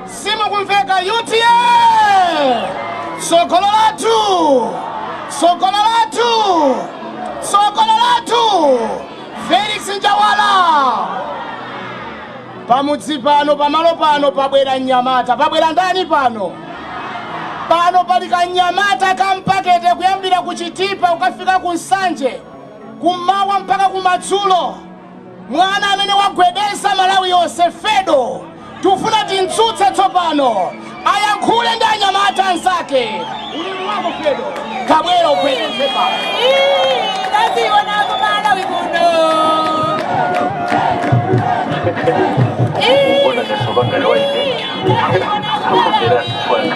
simukumveka utm sogolo lathu sogolo lathu sogolo lathu felix njawala pamudzi pano pamalo pano pabwera mnyamata pabwera ndani pano pano pali kanyamata kampakete kuyambira ku chitipa kukafika ku nsanje kum'mawa mpaka kumadzulo mwana amene wagwedeza malawi yonse fedo tikufuna timtsutse tsopano ayankhule ndi anyamata anzake ulimi wako fedo takabwera ugwedeze pano Taziona kumalawi kuno. Mbona ndasovanga nawe Taziona kumalawi. akubera fana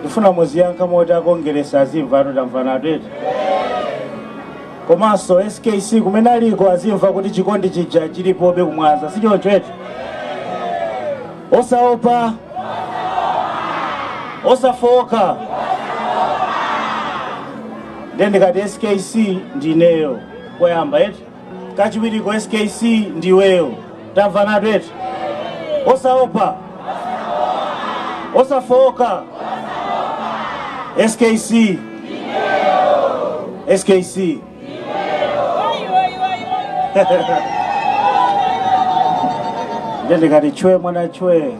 ndifuna muziyankha moti akongeresi azimva atu tamvanatu eti komanso skc kumene aliko azimva kuti chikondi chija chilipobe kumwaza sichoncho eti osaopa osafooka ndiye ndikati skc ndi ineyo koyamba eti kachiwiriko skc ndiweyo tamvanatu eti osaopa osafooka skc skc nde ndikati chwe mwana chwe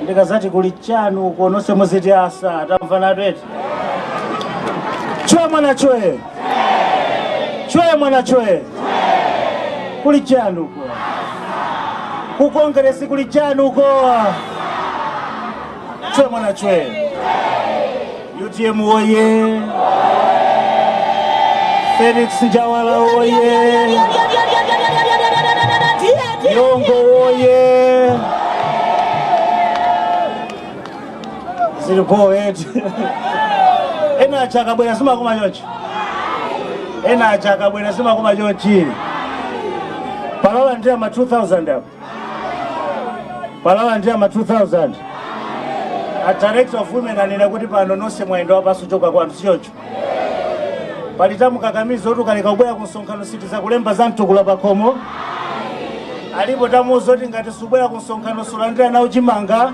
ndikadzati kuli chanu uko nonse muziti asa tamvanatu eti chwe mwana chwe chwe mwana chwe kuli chani uko ku kongeresi kuli chani uko chwe mwana chwe utm woye felix njawala woye yongo woye zili po eti ena aja akabwera simakoma chonchi ena aja akabwera simakoma chonchi palalani ama 2000 apo palalani ama 2000 a director of women anena kuti pano nonse mwayenda wapansi kuchoka kwanu sichoncho pali tamukakamiza kuti ukaleka kubwera ku msonkhano sitidzakulemba za mtukula pakhomo alipo tamuuza kuti ngati subwera ku msonkhano sulandira nawo chimanga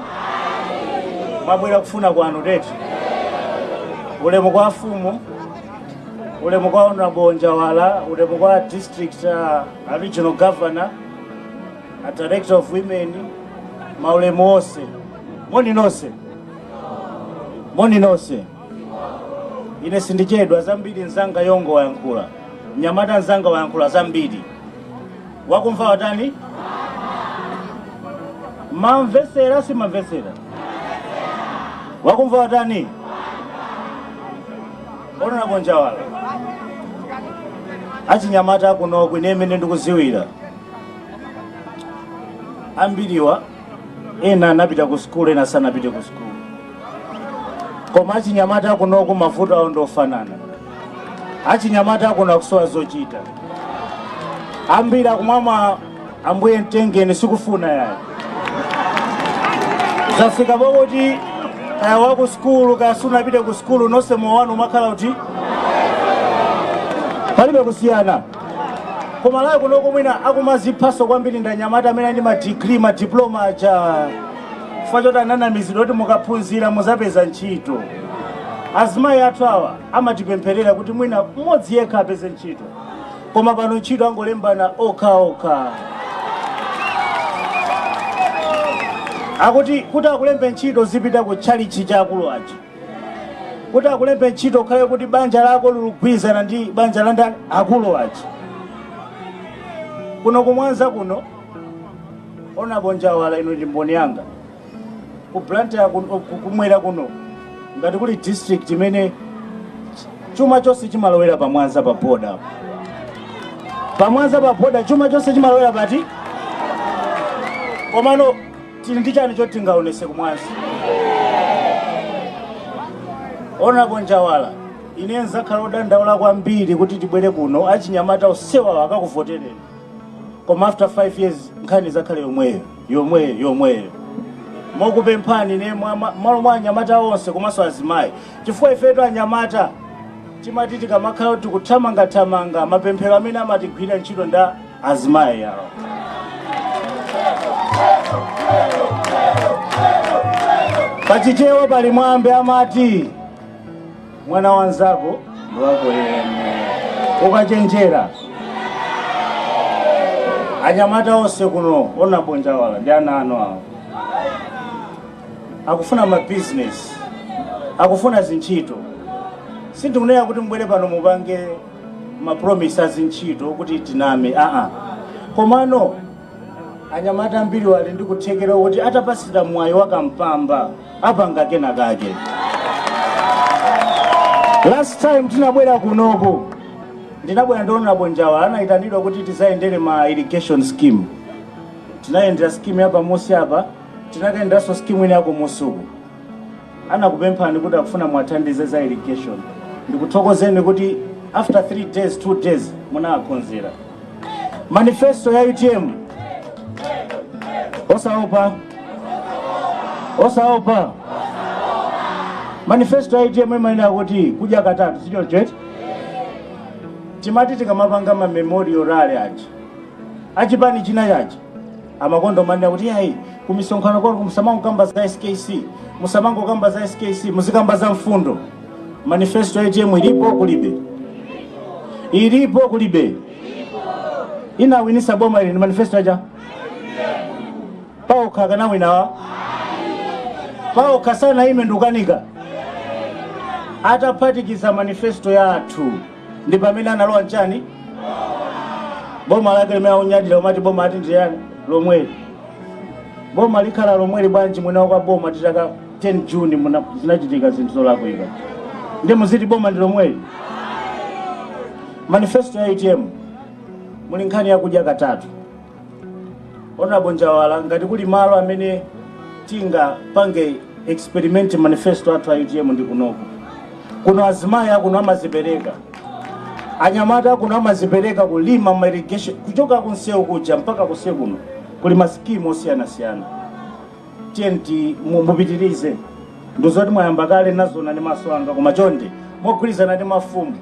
mwabwera kufuna kwanu eti ulemu kwa afumu ulemu kwa honorable Njawala ulemu kwa district uh, a regional governor a director of women maulemu onse moni nonse moni nonse ine sindichedwa zambiri mzanga yongo wayankhula mnyamata mzanga wayankhula zambiri wakumva watani mamvesera simamvesera wakumva watani honorable njawala achinyamata kunoko ine mmene ndikudziwira ambiriwa ena anapita ku sukulu ena sanapite ku sukulu koma achinyamata a kunoku mavuto awo ndi ofanana achinyamata akuno akusowa zochita ambiri akumwama ambuye mtengeni sikufuna yayi zafika pakuti kaya waku sukulu kaya sunapite ku sukulu nonse moyo wanu umakhala kuti palibe kusiyana koma layo kunoko mwina akumadziphanso kwambiri ndi anyamata amene ali ndi madigiri madiploma aja chifukwa choti ananamizidwa kuti mukaphunzira muzapeza ntchito azimayi athu awa amatipempherera kuti mwina mmodzi yekha apeze ntchito koma pano ntchito angolembana okha okha akuti kuti akulembe ntchito zipita ku tchalitchi cha akulu aja kuti akulembe ntchito ukhale kuti banja lako likugwirizana ndi banja la ndani akulu aja kuno ku Mwanza kuno Honourable Njawala inu ndi mboni yanga ku Blantyre ya kuno- ku- kumwera kuno ngati kuli district imene chuma chonse chimalowera pa Mwanza pa boda apo. pa Mwanza pa boda chuma chonse chimalowera apa komano tili ndi chani choti tingaonese ku Mwanza Honourable Njawala ine nzakhala odandaula kwambiri kuti tibwere kuno achinyamata onsewa akakuvotereni koma after 5 years nkhani izakhale yomweyo yomweyo yomweyo ndikupemphani ine mwa- mwa- malo mwa anyamata onse komanso azimayi chifukwa ifetu anyamata timati tikamakhala tikuthamangathamanga mapemphero amene amatigwirira ntchito nda azimayi awa pachichewa pali mwambi amati mwana wanzako ndiwako yemwe ukachenjera anyamata onse kuno Honourable Njawala ndi ana anu awa akufuna mabizinesi akufuna zintchito sindikunena kuti mubwere pano mupange ma promise a zintchito kuti tiname aa komano anyamata ambiriwa ali ndi kuthekera kuti atapasidwa mwayi wa kampamba apanga kena kake last time tinabwera kunoku ndinabwera ndi Honourable Njawala anayitanidwa kuti tizayendere ma irrigation scheme tinayendera scheme ya pamunsi apa tinakayenderanso scheme ina yakumusuku anakupemphani kuti akufuna muwathandize za irrigation ndikuthokozeni kuti after 3 days 2 days munawakonzera manifesto ya utm osaopa osaopa manifesto ya utm imanena kuti kudya katatu si choncho eti timati tikamapanga mamemorial rally aja achipani chinachake amakonda kumanena kuti ayi kumisonkhano kwanu musamangokamba za skc musamangokamba za skc muzikamba za mfundo manifesto ya utm ilipo kulibe ilipo kulibe inawinisa boma ili ndi manifesto yaja paokha akanawina awa paokha sanaime ndikukanika ataphatikiza manifesto yathu ndi pamene analowa m'chani boma lake limene akunyadira kumati boma ati ndi liti lomweli boma likhala lomweli bwanji mwina kwa boma titaka 10 juni muna- zinachitika zinthu zolakwika ndiye muziti boma ndi lomweli manifesto ya utm muli nkhani yakudya katatu Honorable Njawala, ngati kuli malo amene tingapange experiment manifesto athu a UTM ndi kunoko. Kuno azimayi akuno amazipereka, anyamata akuno amazipereka kulima ma irrigation kuchoka kunsewu kuja mpaka kunsewu kuno kuli masikimu osiyanasiyana. Tiyeni mu- mupitirize ndizoti mwayamba kale nazona ndi maso anga koma chonde mogwirizana ndi mafumu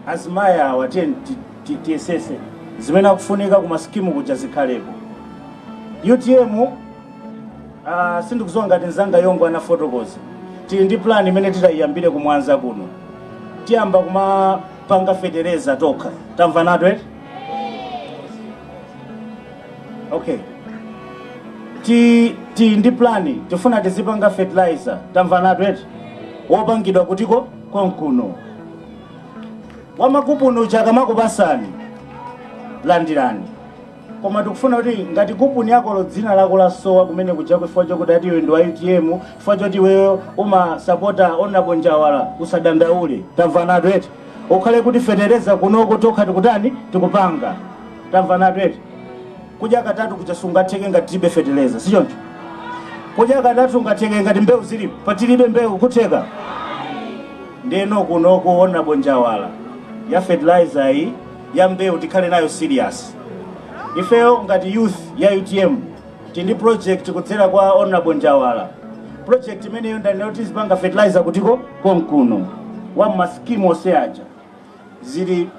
azimayi awa tiyeni ti- tiyesetse zimene akufunika ku masikimu kuja zikhaleko utm uh, sindikuziwa ngati nzanga yongo anafotokoza tili ndi plan imene titayiyambire kumwanza kuno tiyamba kumapanga fetereza tokha tamvanatu eti okay tili ndi plani tifuna tizipanga fertilizer tamvanatu eti wopangidwa kuti konkuno Wamakuponi uja akamakupasani landirani koma tikufuna kuti ngati kuponi yakoyo dzina lako lasowa kumene kujako chifukwa chokuti ati iwe ndi wa utm chifukwa choti iweyo umasapota honorable njawala usadandaule tamvanatu eti zikhale kuti fetereza kunoko tokha tikutani tikupanga tamvanatu eti kudya katatu kuja sikungatheke ngati tilibe fetereza sichoncho kudya katatu kungatheke ngati mbewu zilipo patilibe mbewu kutheka Ndeno kunoko Hon Njawala ya fertilizer yi ya mbewu tikhale nayo serious. Ifeyo ngati youth ya utm tili ndi project kudzera kwa Hon Njawala. Project imeneyo ndanena kuti tizipanga fertilizer kuti konkuno wa ma scheme onse aja zili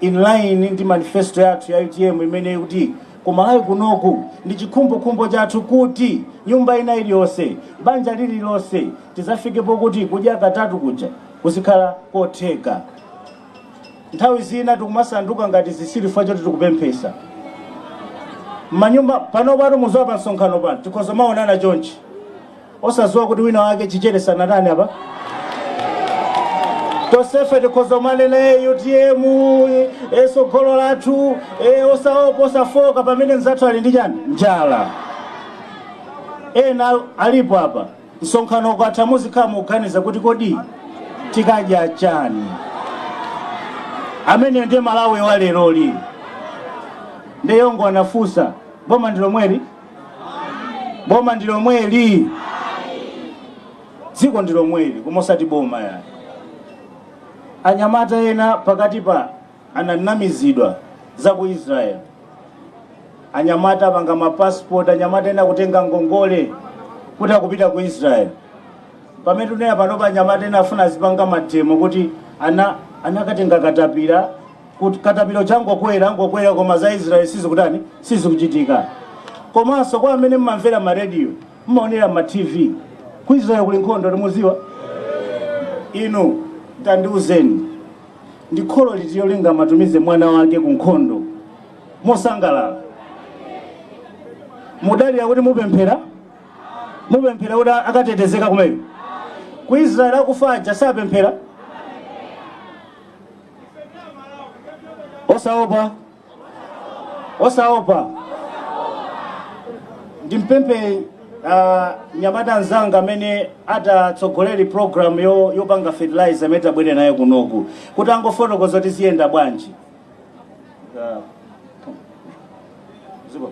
in line ndi manifesto yathu ya utm imene kuti kumalawi kunoko ndi chikhumbokhumbo chathu kuti nyumba ina iliyonse banja lililonse tidzafike pokuti kudya katatu kuja kuzikhala kotheka. Nthawi zina tikumasanduka ngati zisiru chifukwa choti tikupemphetsa mmanyumba panopatu mudziwa pa msonkhano pano tikhoza maonana chonchi osadziwa kuti wina wake chichere sanatani apa tosefe tikhoza kumanena e utm e tsogolo lathu e osaopa osafooka pamene mzathu ali ndi chani njala ena alipo apa Msonkhano ukatha muzikhala mukuganiza kuti kodi tikadya chani? Amene ndiye Malawi wa leroli. Ndiye wongo anafunsa boma ndi lomweli? Boma ndi lomweli? Dziko ndi lomweli koma osati boma yayi. Anyamata ena pakati pa ananamizidwa za ku israel anyamata anapanga mapasipoti anyamata ena kutenga ngongole kuti akupita ku israel pamene tunena panopa anyamata ena afuna azipanga mademo kuti anakatenga katapira kuti katapira akungokwerangokwera koma za israel sizikutani sizikuchitika komanso kwa amene mmamvera ma radio mmaonera ma tv ku israel kuli nkhondo limudziwa inu tandiuzeni Ndi kholo litilo lingamutumize mwana wake ku nkhondo mosangalala? Mudalira kuti mupemphera mupemphera kuti akatetezeka kumene. Ku Israel akufa aja sapemphera osaopa osaopa ndimpemphe uh, mnyamata mnzanga amene atatsogoleri programu yopanga fertilizer amene tabwera naye kunoku kuti angofotokoza kuti ziyenda bwanji uh, ziko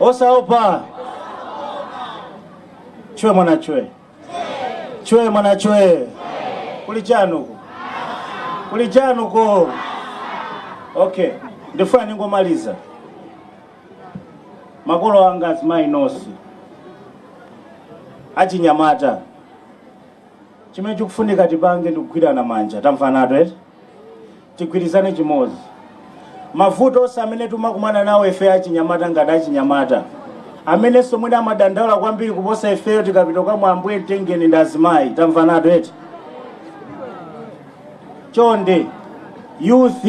Osaopa chwe mwana chwe chwe mwana chwe kuli chanuko kuli chanuko. Okay, ndifuna ningomaliza. Makolo anga azimayi nonse achinyamata, chimene chikufunika tipange ndikugwirana manja, tamvanatu eti tigwirizane chimodzi mavuto onse amene timakumana nawo ife achinyamata ngati achinyamata amenenso mwina amadandaula kwambiri kuposa ifeyo tikapita kwa Ambuye mtengeni ndi azimayi tamvanatu eti chonde youth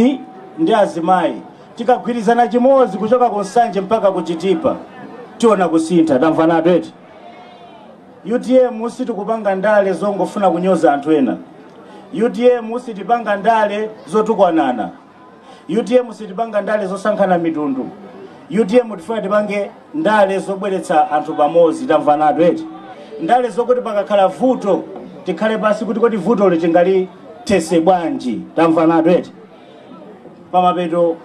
ndi azimayi tikagwirizana chimodzi kuchoka ku nsanje mpaka ku chitipa tiona kusintha tamvanatu eti UTM sitikupanga ndale zongofuna kunyoza anthu ena. UTM sitipanga ndale zotukwanana. UTM sitipanga ndale zosankhana mitundu. UTM tifuna tipange ndale zobweretsa anthu pamodzi, tamvanatu eti? Ndale zokuti pakakhala vuto tikhale pansi kuti kodi vutoli tingalithese bwanji, tamvanatu eti? Pamapeto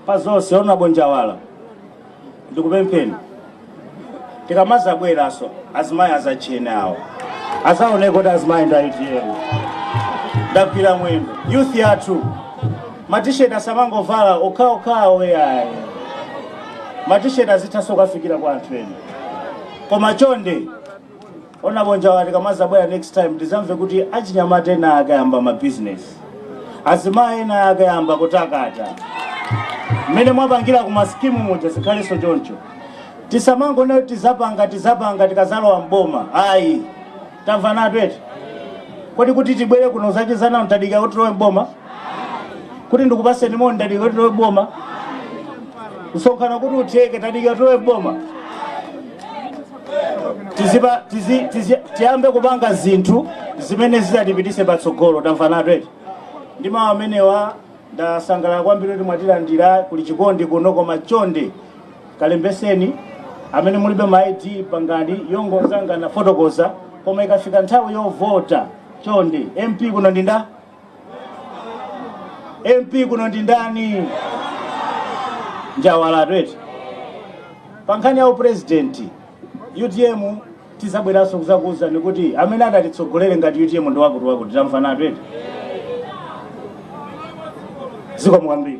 pa zonse, Hon. Njawala, ndikupempheni tikamazabweraso azimayi azatchene awo azaoneke kuti azimayi nda utm ndagwira mwendo youth yathu matisheti asamangovala okhaokhawo yayi matisheti azithaso kukafikira kwa anthu ena koma chonde honourable njawala tikamazabwera next time tizamve kuti achinyamata ena akayamba ma business azimayi ena akayamba kutakata mmene mwapangira ku ma scheme muja zikhalenso choncho tisamangonena kuti tizapanga tizapanga tikazalowa mboma ayi tamvanatu eti kodi kuti tibwere kuno tidziwane tadika kuti tilowe mboma kuti ndikupaseni moni ndadika kuti tilowe mboma msonkhano kuti utheke tadika tilowe mboma tizipa tizi, tizi, tiyambe kupanga zinthu zimene zizatipitise patsogolo tamvanatu eti ndi mawu amenewa ndasangalala kwambiri kuti mwatilandira kuli chikondi kuno koma chonde kalembeseni amene mulibe ma id pangani yomwe anzanga anafotokoza koma ikafika nthawi yovota chonde mp kuno ndinda MP kuno ndi ndani? Njawalatu eti. Pa nkhani ya upresident UTM tizabweranso kuzakuwuzani kuti amene atatitsogolere ngati UTM ndi wakuti wakuti tamvanatu eti. Zikomo kwambiri.